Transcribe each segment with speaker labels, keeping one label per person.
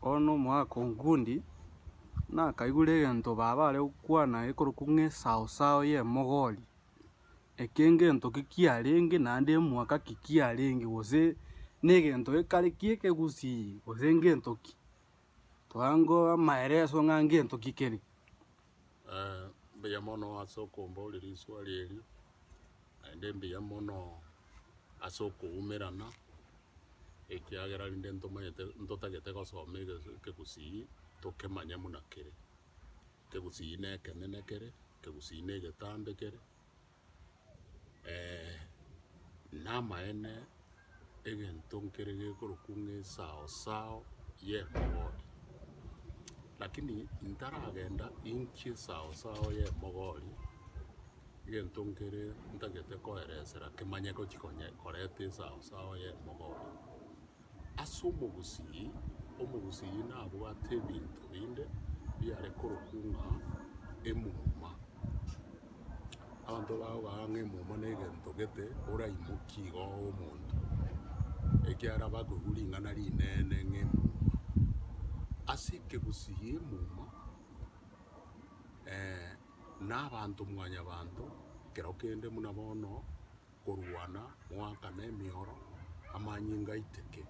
Speaker 1: Bono na omogaka o Nkundi, nakaigure egento baba are gokwana ekorokwa ng'a esao sao ya emogori, eke ngento ki kiarenge naende emwaka ki kiarenge gose na egento ekare ki ekegusii gose ngento ki, twango amaeleso ng'a ngento ki kere.
Speaker 2: Mbuya mono ase okombora eriswa eri. naende mbuya mono ase okoumerana, ekiagera rinde ntomanyete ntotagete gosoma eges- ekegusii tokemanye buna kere. Ekegusii ne ekenene kere, ekegusii ne egetambe kere, na amaene. egento nkere gekorokwa ng'a esao sao y'emogori. Lakini ntaragenda inki esao sao y'emogori, egento nkere ntagete koeresera kemanyete gochi konya koreta esao sao y'emogori. Ase omogusii, omogusii nabwate ebinto binde biare korokwa ng'a emuma. Abanto bago baga ng'a emomo negento gete oraimokie igo omonto, ekiagera bakoigwa ring'ana rinene ng'a emomo. Ase ekegusii gia emomo na abanto mwanyabanto ekero kende buna bono korwana, goakana emioro, amanyinga aiteke,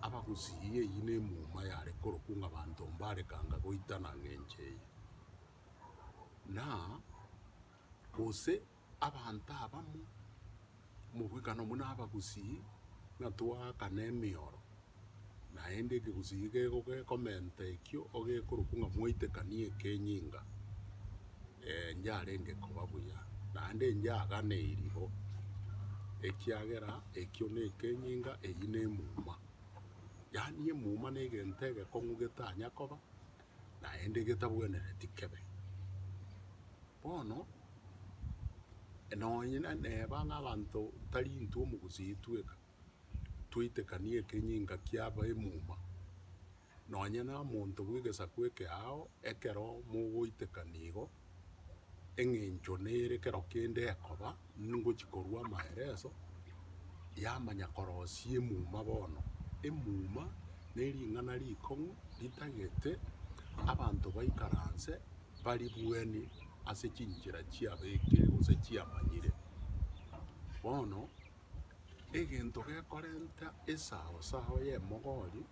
Speaker 2: abagusii eyio ne emomo yare korokwa ng'a abanto mbare kanga goitana ng'a enchera eyio. na, gose abanto abamo omobwekano buna abagusii, ng'a twaakane emeoro, naende ekegusii gekego gekomenta ekio ogekorokwa ng'a mwaitekanie ekenyinga, ee, njarenge koba buya, naende njaganeiri bo, ekiagera ekio nekenyinga, eyio nemuma. Yaani emuma negento egekong'u getanya koba, naende getabwenereti kebe. Bono nonye na neba ng'a abanto tari intwe omogusii tweka twaitekani ekenyinga kia abaimuma, nonye na omonto bw'egesaku ekeao ekero mogoitekana igo, eng'encho nere kero kende ekoba ngochia korua amaereso yamanya korosia emuma bono. Emuma nering'ana rikong'u ritagete abanto baikaranse baribueni ase chinchera chiabekire gose chiamanyire. Bono. egento gekorenta esao sao y'emogori,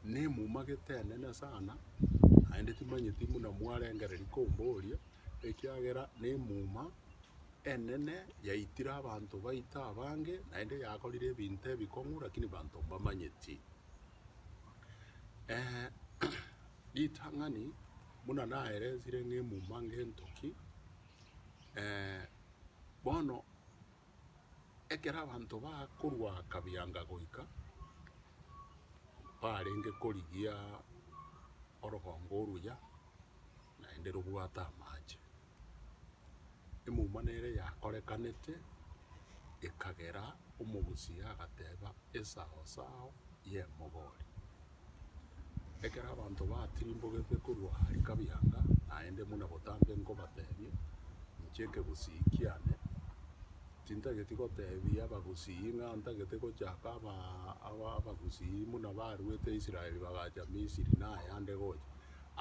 Speaker 2: na emumagete enene sana, naende timanyeti buna mwarengereria komboria, ekiagera na emuma enene yaitire abanto baito abange, naende yakorire ebinto ebikong'u lakini banto mbamanyeti. ritang'ani buna naelezire ng'a emuma ngento ki, bono. ekero abanto bakorwa kabianga goika, barenge korigia orogongo oruya, naende robwate amache. Emouma nere yakorekanete, ekagera omogusia agateba, Esao sao y'emogori. Ekero abanto batirimbogete korwa aria kabianga, naende buna botambe nkobatebie, inche ekegusii kiane tintageti gotebia abagusii ng'a ntagete gochaka abagusii buna baruete Israel bagacha Misiri na ayande gocha.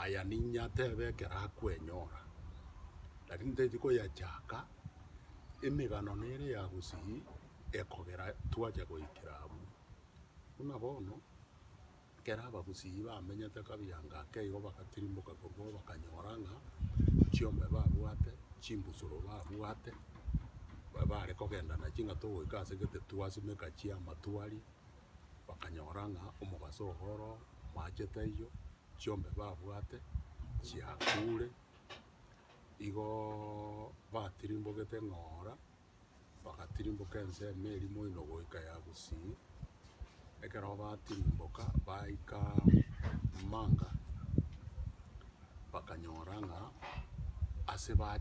Speaker 2: Aya ninye atebe ekero akwenyora, lakini ntageti koyachaka emegano nere ya gusii ekogera twacha goikera abwo. Buna bono, ekero abagusii bamenyete kabiya ngake igo bagatirimboka korwao bakanyora ng'a chiombe babwate, chimbusuro babwate, bare kogenda nachio ng'a togoika ase gete twasimeka chi'amatwari, bakanyora ng'a omobaso ogo oroo omachete aywo, chiombe babwate chiakure, igoooo batirimbogete ng'ora. bagatirimboka ensemo eria moino goika ya Gusii. Ekero batirimboka baika Manga, bakanyora ng'a ase ba-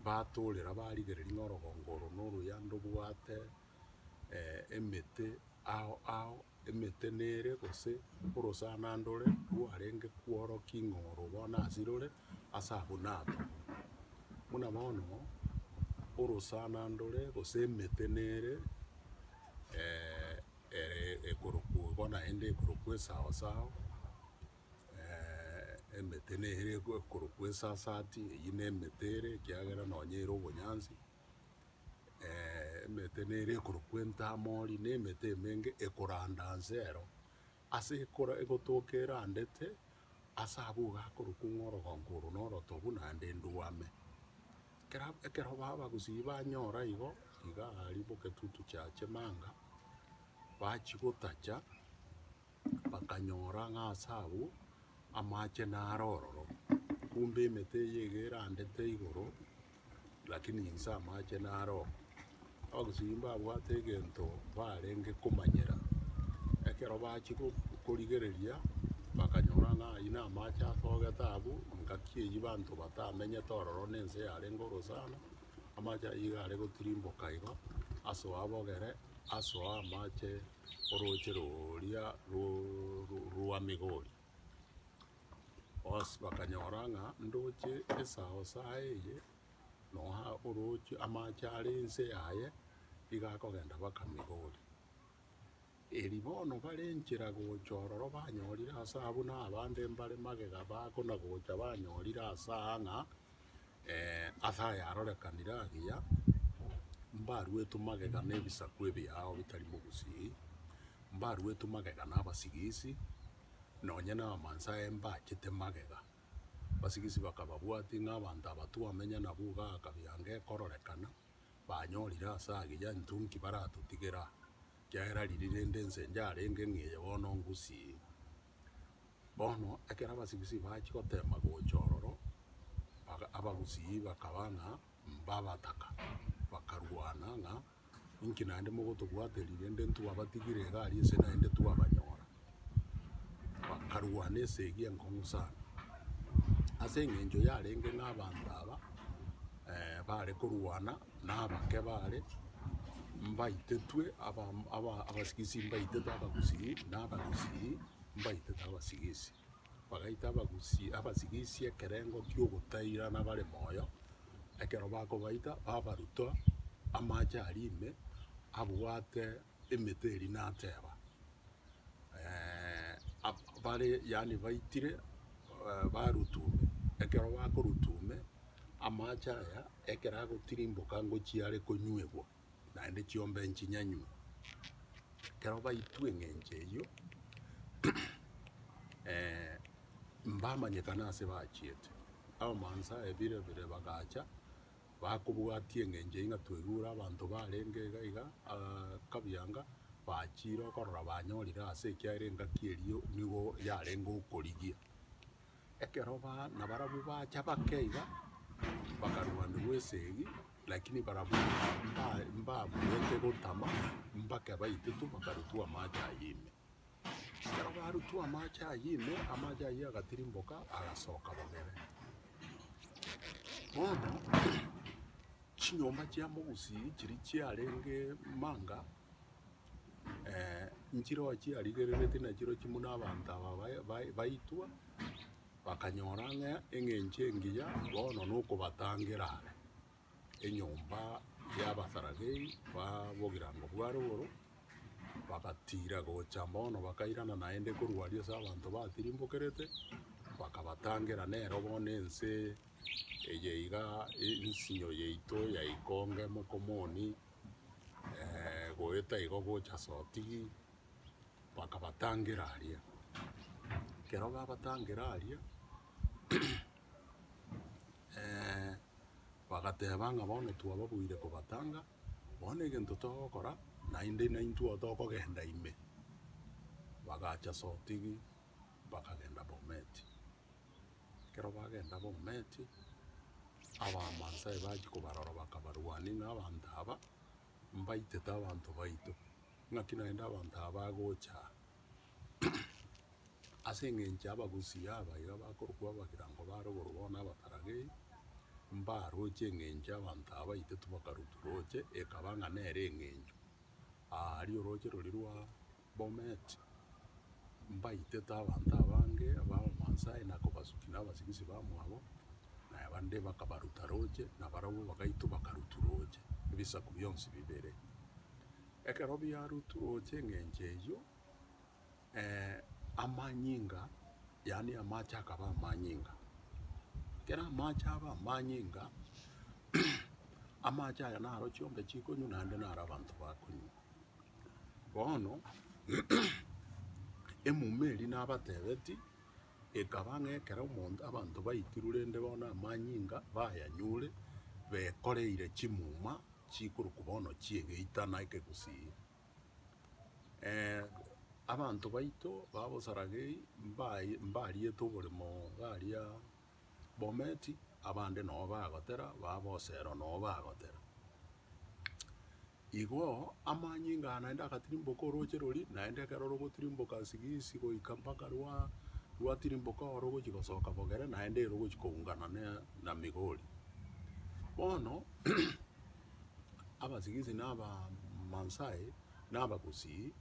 Speaker 2: batorera barigereria ng'a orogongo oro na oruyanda obwate emete ao ao emetenere gose orosana ndore rwarenge kworokia ing'oro bono asire ore ase abwo natoo. Buna bono orosana ndore gose emetenere ere ekorokwo bono naende ekorokwo esaosao emetenere ekorokwo esasati eywo nemetere ekiagera nonye ere obonyansi. emete nere ekorokwa entamori, na emete emenge ekoranda nse ero, ase ekora egotoka erandete, ase abwo iga akorokwa ng'a orogongo oro na orotobu naende ndwame. Ekero ekero baba bagosibia banyora igo, iga aria bogetutu chia chimanga, bachigotacha. bakanyora ng'a ase abwo amache naro ororo, kumbe emete eye iga erandete igoro, lakini inse amache naro oo. Abagusii mbabwate egento barenge komanyera, ekero bachia go- korigereria, bakanyora ng'a aywo na amache asogete abwo, engaki eywo abanto batamenyete ororo na ense yarenge orosana, amache aywo iga are gotirimboka igo, asoa abogere, asoa amache. orooche roria rwa Migori, bonsi bakanyora ng'a ndoche esao saye eye, nonya orooche amache are ense yaye, nigo akogenda mpaka Migori. Erio bono bare enchera gocha ororo banyorire ase abwo na abande mbare magega bakona gocha banyorire ase aa ng'a. ase ayarorekanire agiya, mbaruetwe magega na ebisaku ebiao bitari mogusii, mbaruetwe magega na abasigisi, nonye na abamansae mbachete magega. Abasigisi bakababwatia ng'a abanto aba twamenye nabo iga akabianga ekororekana, banyorire ase agiya intwe nki baratotigera aa, ekiagera riria rende ense yarenge ng'a eye bono ngusii. Bono ekero abasibisii bachia goteema gocha ororo, baka- abagusii bakaba ng'a mbabataka, bakarwana ng'a inki naende mogotobwateri rende ntwabatigire iga aria ase naende twabanyora. Bakarwana esegi enkong'u sana. Ase eng'encho yarenge ng'a abanto aba bare korwana na abake baare mbaitetwe aba- aba- abasigisi mbaitetwe abagusii, na abagusii mbaitetwe abasigisi. Bagaita abagusi abasigisi ekerengo kiogotairana bare moyo, ekero bakobaita babaruta amache aria ime abwate. emetwe eria nateba, bare yaani baitire barutume, ekero bakorutume amache aya ekero agotirimboka ngochia are konyuegwa naende chiombe nchinyanywe. Ekero baitwe eng'encho eyio mbamanyekana ase bachiete. Abamansae bire bire bagacha. bakobwatia eng'encho ng'a twaigure abanto barenge iga iga kabianga, bachire okorora banyorire ase ekiagera engaki eria nigo yarenge okorigia. Ekero ba- nabarabwo bacha bake iga, bakarwaniwa esegi, lakini barabwo mba- mbabuete gotama, mbake baitetwe bakarutwa amache ayio ime. Ekero barutwa amache ayio ime, amache ayio agatirimboka, agasoka bogere. Bono chinyomba chia mogusii chiria chiarenge manga, nchire oo chiarigereretie nachirochio buna abanto aba bae- bae- baitwa, bakanyora ng'a eng'encho engiya bono nokobatangera are. enyomba y'Abasaradei ba bogirango bwa rogoro, bagatiira gocha bono bakairana naende korwa aria ase abanto batirimbokerete, bakabatangera nero bono ense eye iga ensinyo yaito ya ikonge mokomoni goeta igo gocha sotigi, bakabatangera aria. Ekero babatangera aria. bagateba ng'a bono twababoire kobatanga, bono egento togokora naende naintwe oo tokogenda ime. Bagacha sotigi bakagenda Bometi. Ekero bagenda Bometi, Abaamansai bachia kobarora bakabarwania ng'a abanto aba mbaitete abanto baito, naki naende abanto aba bagocha aa. Ase engencho abagusi aba iga bakorokwa abagirango bare oboru bono abataragei, mbaroche engencho abanto aba baito tibakarutwa roche, ekaba ng'a nere engencho aria oroche roria rwa Bomet, mbaitete abanto abange abamansae na kobasukia nabasigisi bamwabo, na bande bakabaruta roche, na barabwo bagaitwa bakarutwa roche, ebisaku bionsi bibere. Ekero biarutwa roche engencho eyio. amanyinga, yaani amache akaba amanyinga. Ekero amache aba amanyinga, amache aya naro chiongo chikonywa naende naro abanto bakonywa. Bono, emuma eria nabatebeti, ekaba ng'a ekero omonto, abanto baitirwe rende bono amanyinga bayanyure, bekoreire chimuma chikorokwa bono chi'egeita na ekegusii. abanto baito b'abosaragei mbaye mbariete oboremo gaaria Bomet, abande nabo bagotera, ba Bosero nabo bagotera. Igo amanyinga aya naende agatirimboka orooche roria, naende ekero rogotirimboka sigisi goika mpaka rwa rwatirimboka oro rogochia gosoka Bogere, naende ere ogochia koungana na na Migori. Bono. abasibisi na Abamasai na Abagusii,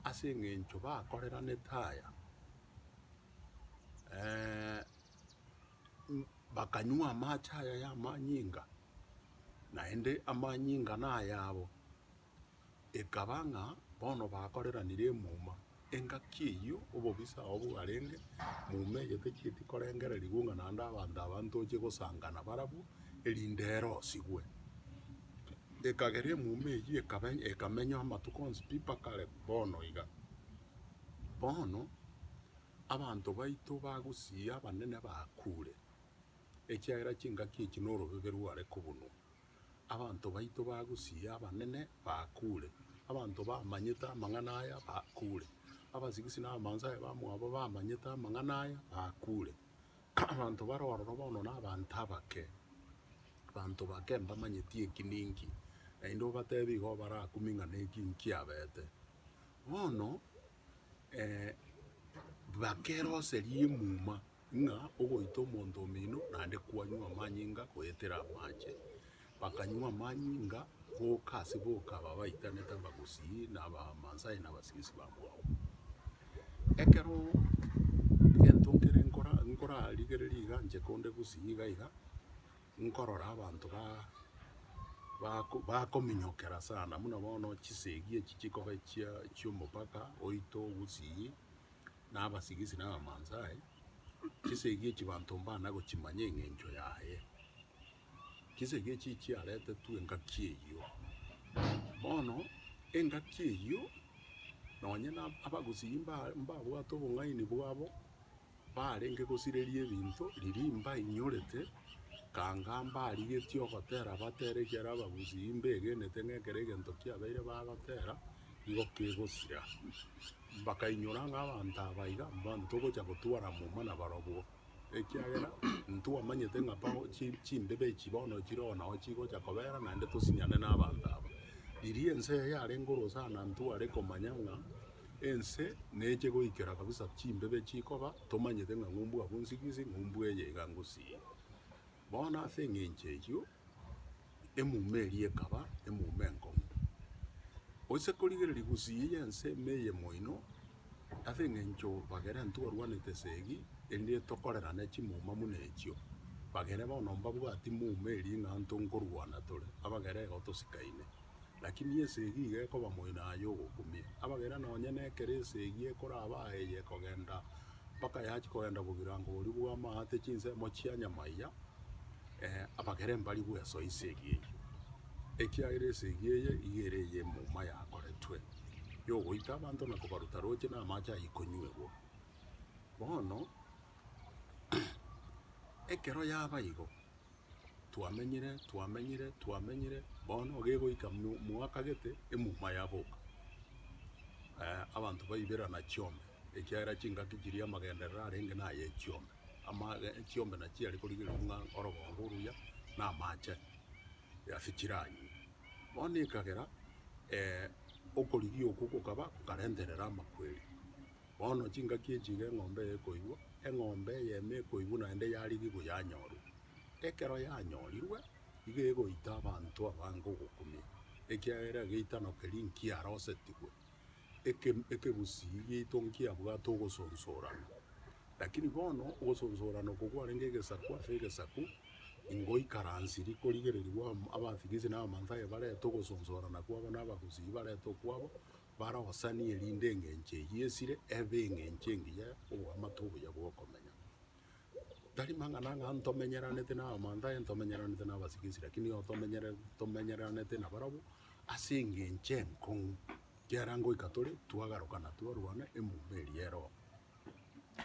Speaker 2: ase eng'encho bakoreranete aya, bakanywa amache aya y'amanyinga, naende amanyinga nayabo. Ekaba ng'a bono bakoreranire emuma, engaki eyio obobisa obo bwarenge, muma eye techieti korengererigwa ng'a naende abanto aba ntoche gosangana barabwo, erinde ere osigwe. Ekagera emuma eyio ekaba ekamenywa amatuko onsi pi mpaka are bono iga. Bono abanto baito bagusii abanene bakure, ekiagera chingaki echi norobebe rware kobunwa. Abanto baito bagusii abanene bakure, abanto bamanyete amang'ana aya bakure, abasigisi na abamanso aye bamwabo bamanyete amang'ana aya bakure. Abanto bare ororo bono nabanto abake, abanto bake mbamanyeti eki ninki, naende obatebi igo barakumie ng'a neki nkiabete. Bono bakeroserie emuma. ng'a ogoita omonto omino naende kwanywa amanyinga goetera amache. Bakanywa amanyinga boka ase boka babaitanete abagusii na abamansae na abasibisi ba mwao. Ekero gento nkere nkora- nkorarigereria iga inche konde gusii iga iga, nkorora abanto ba- bako- bakominyokera sana buna bono chisegi echi chikoba chia- chiomopaka oito gusii, na abasigisi na abamansae, chisegi echi banto mbana gochimanya eng'encho yaye. Chisegi echi chiaretetwe engaki eyio. Bono engaki eyio nonye na abagusii mba- mbabwate obong'aini bwabo, barenge gosireria ebinto riria mbainyorete, kanga mbarigetie ogotera batere ekiagera abagusii mbegenete ng'a ekero egento kiabeire bagotera, nigo kegosira. Mbakainyora ng'a abanto aba iga mbanto togocha gotwara muma nabarobwo, ekiagera ntwamanyete ng'a bao chi- chimbebe echi bono chire oo nao chigocha kobera, naende tosinyane nabanto aba. Riria ense eye yarenge orosana ntware komanya ng'a ense neche goikera kabisa chimbebe chikoba, tomanyete ng'a ng'umbu abwo nsigisi, ng'umbu eye iga ngusii. Bono ase engencho eyio emuma eria ekaba emuma enkong'u, gose korigereria gusii y'ense ime eye moino, ase engencho bagere intwarwanete esegi, erinde tokorerane chimuma buna echio. Bagere bono mbabwati muma eria ng'a ntokorwana tore, abagere igo tosikaine. Lakini esegi iga ekoba moino aye ogokumia. Abagera nonye nekero esegi ekoraba aye eye ekogenda mpaka yachi kogenda bogirango boria bw'amaate chinsemo chia nyamaiga, eh, abagere mbari bwesoe esegi eyio, ekiagera esegi eye iga ere ey'emouma yakoretwe, yogoita abanto na kobaruta roche na amache ayio konyuegwa. Bono, ekero yaba igo, twamenyire, twamenyire, twamenyire, bono gegoika mo- moaka gete, emuma yaboka. abanto baiberana chiombe, ekiagera chingaki chiria amagenderero arenge naye echiombe, amage echiombe na chiare korigereria ng'a orogongo oruya na amache ase chiranywe. Bono ekagera okorigia okwo gokaba, gokarenterera amakweri. Bono chingaki echi iga eng'ombe eye ekoigwa, eng'ombe eyemo ekoigwa naende yarigigwa yanyorwa. Ekero yanyorirwe, iga egoita abanto abange ogokumia, ekiagera egeitano keria nkiarosetigwe, eke- ekegusii gieito nkiabwate ogosonsorana. Lakini bono ogosonsorana oko kwarenge egesaku ase egesaku, ingoikaransiri korigererigwa am- abatigisi na Amathayo barete ogosonsorana kwabo na abagusii barete okwabo, Barosanie erinde engencho eyio esire ebe engencho engiya oboamate obuya bw'okomenya. Tari mang'ana ng'a ntomenyeranete n'abamanto aye ntomenyeranete n'abasike esira, lakini nigo tomenyere- tomenyeranete nabarabwo ase engencho enkong'u, ekiagera ngoika tore twagaruka na twarwana emuma eria ya erooro.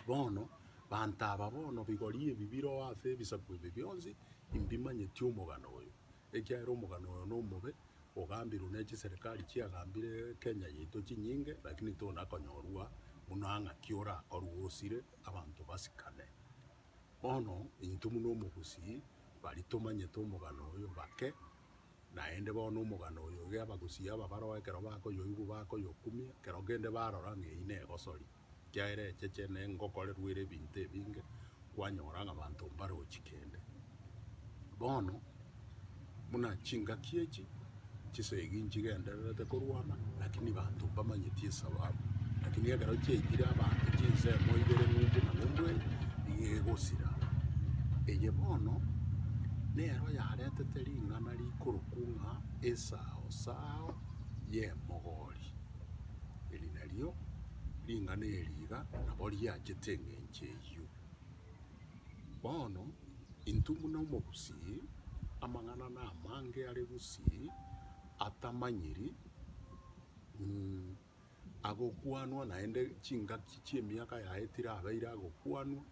Speaker 2: Bono banto aba bono bigori ebi biroa ase ebisaku ebi bionsi, imbimanyeti omogano oyo. Ekiagera omogano oyo nomobe, ogambirwe ne chiserikari chiagambire Kenya yaito chinyinge, lakini tonakonyorwa buna ng'a ki orakorwe osire abanto basikane. Bono intwe buna omogusii bari tomanyete omogano oyo bake, naende bono omogano oyo iga abagusii aba baroo ekero bakoyoigwa bakoyokumia, ekero kende barora ng'a eyio negosori. Ekiagera echeche ne ngokorerwa ere ebinto ebinge, kwanyora ng'a abanto mbarochi kende. Bono buna chingaki echi chisegi nchigendererete korwana, lakini abanto mbamanyeti esababu. Lakini ekero chiaitire abanto chinsemo ibere ng'umbu na ng'umbu eye, nigo egosira. Eye bono nero yaretete ring'ana rikorokwa ng'a esao sao y'emogori. Eri nario ring'ana eri iga nabo riachete engencho eyio. Bono intwe buna omogusii, amang'ana na amange are gusii atamanyiri, mm, agokwanwa naende chingaki chi'emiaka yaye tirabeire agokwanwa,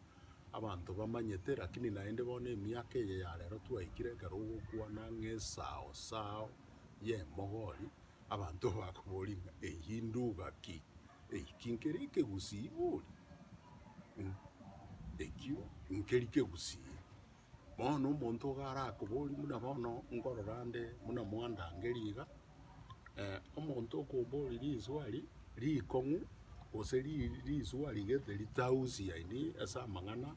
Speaker 2: abanto bamanyete, rakini naende bono emiaka eye ya rero twaikire ekero ogokwana ng'a esao sao y'emogori, Abanto bakoboria ng'a, Eyio nduga ki? Eki nkere ekegusii bori? Ekio nkeri kegusii. Bono omonto iga arakoborie buna bono nkorora nde buna mwandangeria iga, omonto okoboria riswari rikong'u gose riswari gete ritausiani ase amang'ana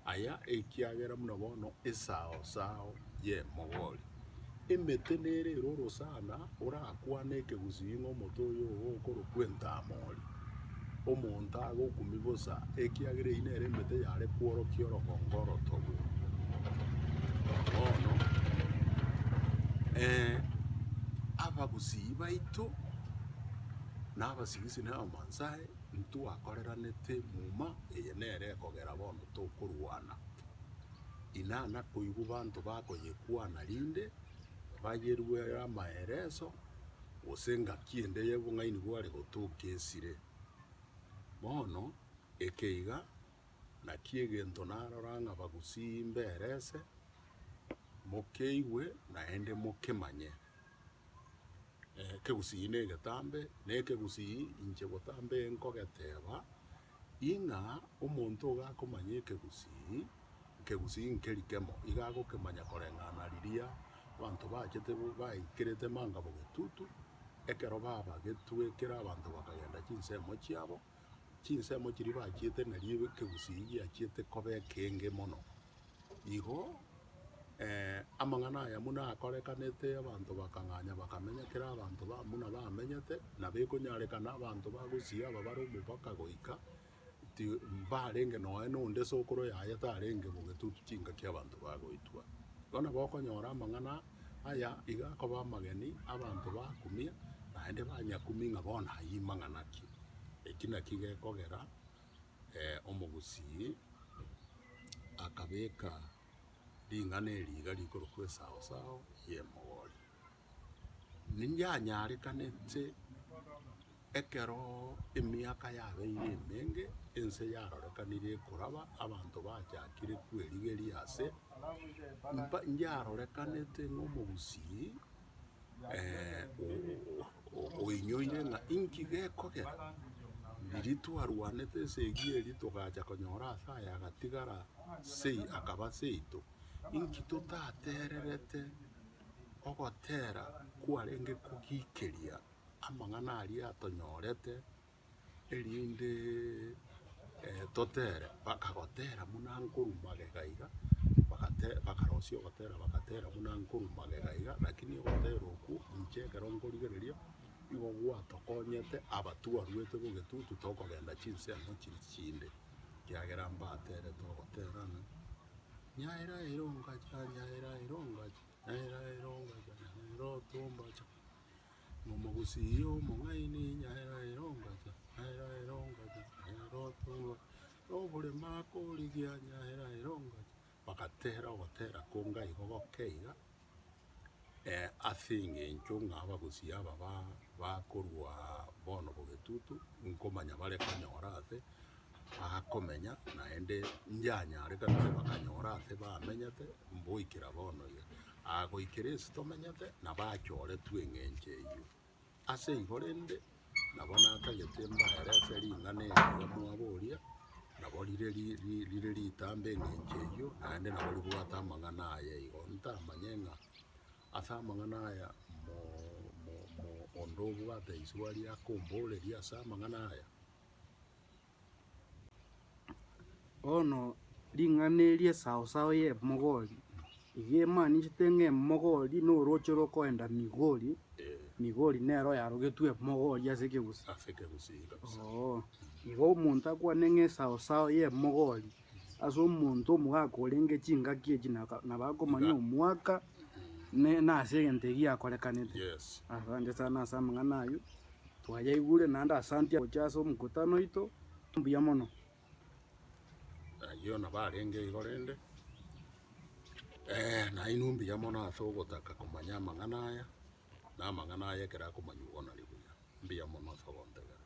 Speaker 2: Aya ekiagera buna bono esao sao y'emogori. Emete nere ere orosana orakwane ekegusii ng'a omote oyo ogo okorokwa entamori. Omonto agokumi bosa, ekiagera eyio nere emete yare kworokia orogongo orotogo. Bono, eh, abagusii baito, na abasigisi na abamansae, Ntwakoreranete muma eye nere ekogera bono tokorwana. Inana koigwa banto bakoyekwana rinde bayeruere amaereso gose engaki ende y'obong'aini bware gotoka esire. Bono eke iga naki egento narora ng'a bagusii mberese, mokeigwe naende mokemanye. ekegusii negetambe, na ekegusii inche botambe nkogeteba, ing'a omonto iga akomanya ekegusii, ekegusii nkeri kemo, iga agokemanya koreng'ana riria abanto bachete baikerete manga bogetutu, ekero babagetwe ekero abanto bakagenda chinsemo chiabo, chinsemo chiria bachiete na ribe ekegusii giachiete koba ekenge mono. Igo amang'ana aya buna akorekanete abanto bakang'anya bakamenya ekero abanto ba buna bamenyete nabo ekonyarekana abanto ba gusii aba bare omopaka goika ti mbarenge nonya na onde sokoro yaye tarenge bobe tu chingaki abanto bagoitwa. Bono nabo okonyora amang'ana. Aya iga akoba amageni abanto ba kumia, naende banyakumi ng'a bono ayio mang'ana ki? Eki nakio gekogera omogusii akabeka ring'ana eri iga rikorokwa Esaosao y'Emogori. Ninyanyarekanete. Ekero emiaka yabeire emenge, ense yarorekanire ekoraba, abanto bachakire kwerigeria ase mpa yarorekanete ng'omogusii oinyoire ng'a inki gekogera. Riria twarwanete esegi eria togacha konyora ase aye agatigara sei, akaba seito. Inki totatererete ogotera kwarenge kogikeria? amang'ana aria atonyorete erinde totere, bakagotera buna nkorwa magega iga, bagate bakarosia ogotera bagatera buna nkorwa magega iga, lakini ogotera okwo inche ekero nkorigereria nigo gwatokonyete aba twarwete bo egetutu tokogenda chinsemo chiria chinde, ekiagera mbaterete ogotera ng'a nyaera ere ongacha, nyaera ere ongacha, nyaera ere ongacha, nyaera otombacha. Omogusii iga omong'aini onye aye aye ongata, aye aye ongata, aye aye otugwa, oboremo akorigia onye aye aye ongata, bagatera ogotera konga igo goke iga, ase eng'encho ng'a abagusii aba ba- bakorwa bono bogetutu, nkomanya bare konyora ase. bakomenya, naende inchanyare kabisa bakanyora ase bamenyete mboikera bono iga. Aa goikera ense tomenyete nabo achoretwe eng'encho eyio. Ase igo rende, nabo natagete mbaere ase ring'ana eri riria mwaboria, nabo rire ri- ri- rire ritambe eng'encho eyio, naende nabo ribwate amang'ana aya igo. Ntamanye ng'a ase amang'ana aya mo- mo- mo- onde obwate isubari akomboreria ase amang'ana aya,
Speaker 1: Bono ring'ana eri esao sao ya emogori, iga emaanisete ng'a emogori na orooche rokoenda Migori, Migori nero oyarogetwe emogori ase ekegusii. Ase ekegusii iga kabisa.
Speaker 2: Ooh. Igo
Speaker 1: omonto akwane ng'a esao sao ya emogori ase omonto omogaka orenge chingaki echi naka nabo akomanya Iga. omwaka ne nase egento ekiakorekanete. Yes. Asante
Speaker 2: sana ase
Speaker 1: amang'ana ayio. Twayaigure naende asanti gocha ase omokutano oito. Mbuya mono. Ayio
Speaker 2: nabo arenge igo rende. Eeh nainwe mbuya mono ase ogotaka komanya amang'ana aya, na amang'ana aya ekero akomanywa igo nari buya. Mbuya mono ase ogontegerera.